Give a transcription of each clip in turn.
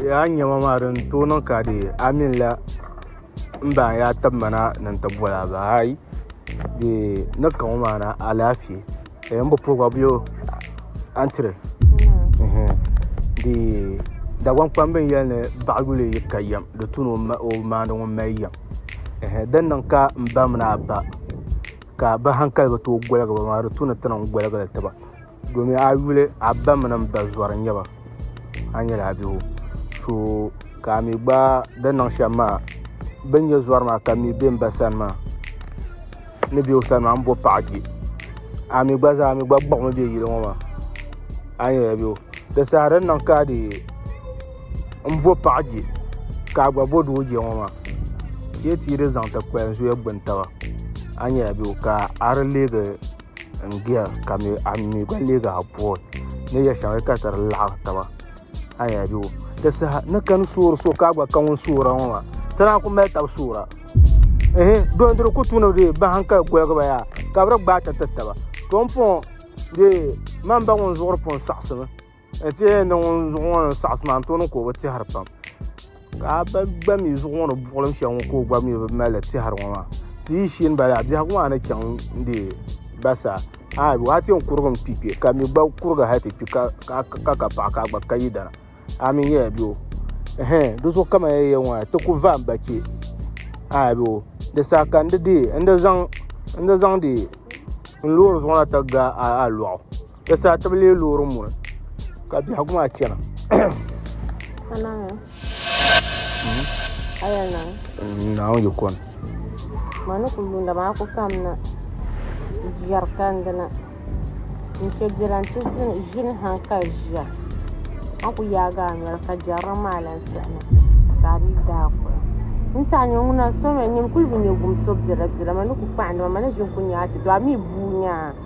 yaa nyɛma maa din tooi niŋ ka dee a mini la n baŋ yaa tibimana ni n ti boli a bahi ayi dee ni kaŋ o maana alaafee ka yen bi pobi bɔbigu a ni tiri dee Dagbaŋ kpamba n yɛli ni baɣa yuli yi ka yɛm di tu ni o maandi ŋun mali yɛm din niŋ ka m ba mini a ba ka bɛ hankali bi tooi gɔligi ba maa di tu ni ti niŋ gɔligili ti ba. domin a yuli a ba mini n ba zɔri n nyɛba a nyɛla a bihu so ka a mi gba di niŋ shɛm maa bin nyɛ zɔri maa ka mi bɛ n ba sani maa ni bɛ o sani maa n bo paɣa kpɛ a mi gba zaa mi gba kpuɣimi bɛ yili ŋɔ maa a nyɛla a bihu di saha din niŋ ka di n bo paɣa kpɛ ka a gba bo doo kpɛ ŋɔ maa yɛ ti yi di zaŋ ti kpalim zuya gbuni taba a nyɛla a bihu ka a di leegi n giya ka mi a mi gba leegi a pɔi ni ya shɛŋa ka ti di laɣiri taba a ni yɛn bɛ di saha ni kani soori so ka a gba ka ŋun soora ŋɔ maa ti naan ku mali tabi soora ehe dɔn dini ku tuuni dee bahi ka goligi ba yaa ka bi di gbaai ti tiri taba to n pɔŋɔ dee man ba ŋun zuɣuri pun saɣisi mi. N ti yɛn niŋ ŋun zuɣu ŋɔ ni saɣasi maa n tooni ka o bi tɛhiri pam ka a ba gba mii zuɣu ŋɔ ni buɣulim shɛli ŋɔ ka o gba mii bi mali tɛhiri ŋɔ maa ti yi shee n bala biɛhagu maa ni chaŋ n deei ba sa a waa ti yɛn kurigi n kpi kpɛ ka mi gba kurigi hali ti kpi ka ka paɣa ka a gba ka yidana a mii nyɛla bɛ o ɛhɛn di zuɣu kama yɛn yɛli ŋɔ maa ti ku va n ba kpɛ a bɛ o di saha ka n di deei n di zaŋ n di zaŋ deei n loori zuɣu na ti ga a lɔɣu Di saa ti bi lee loori muri ka biɛhigu maa chɛna. Naawuni yi kɔni. Ma ni ku yuunda maa ku kamina biɛri kandi na n-chɛ biɛla nti ʒini ha ka ʒiya. A ku yaagi a noli ka jɛrilim maa lan sihima ka a dii daa kuhi. N ti a nya ŋuna so mi, nyin kul bi nyɛ gumso biɛlabiɛla, ma ni ku kpahindi ma, ma ni ʒini ku nya a ti do, a mi buui nya a.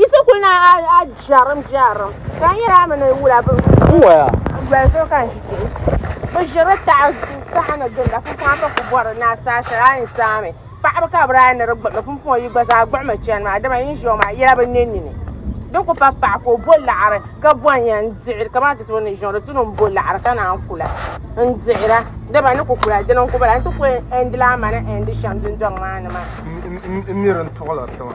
Isa kuli na a a jɛrim jɛrim ka n yɛra mi ni wula bi doli so ka n ʒi kpɛ bi ʒiri taha taha ni ginda pumpɔŋ ka ku bɔri ni a saa shɛli a yɛn saami paɣaba ka bi daa ni di gbuɣumi pumpɔŋ yi gba zaa gbuɣumi chɛni maa dama yi ni ʒiya maa yɛla bi nɛ nini din ku pa paɣa ka o bo laɣari ka bɔn yɛn dihiri kamani ti tooi ni ʒiya di tuni n bo laɣari ka naan kula n dihira dama ni ku kula dini n ku bala n ti ku ɛndi laa mani ɛndi shɛm dundɔŋ maa ni maa n miri n tuɣula tiŋa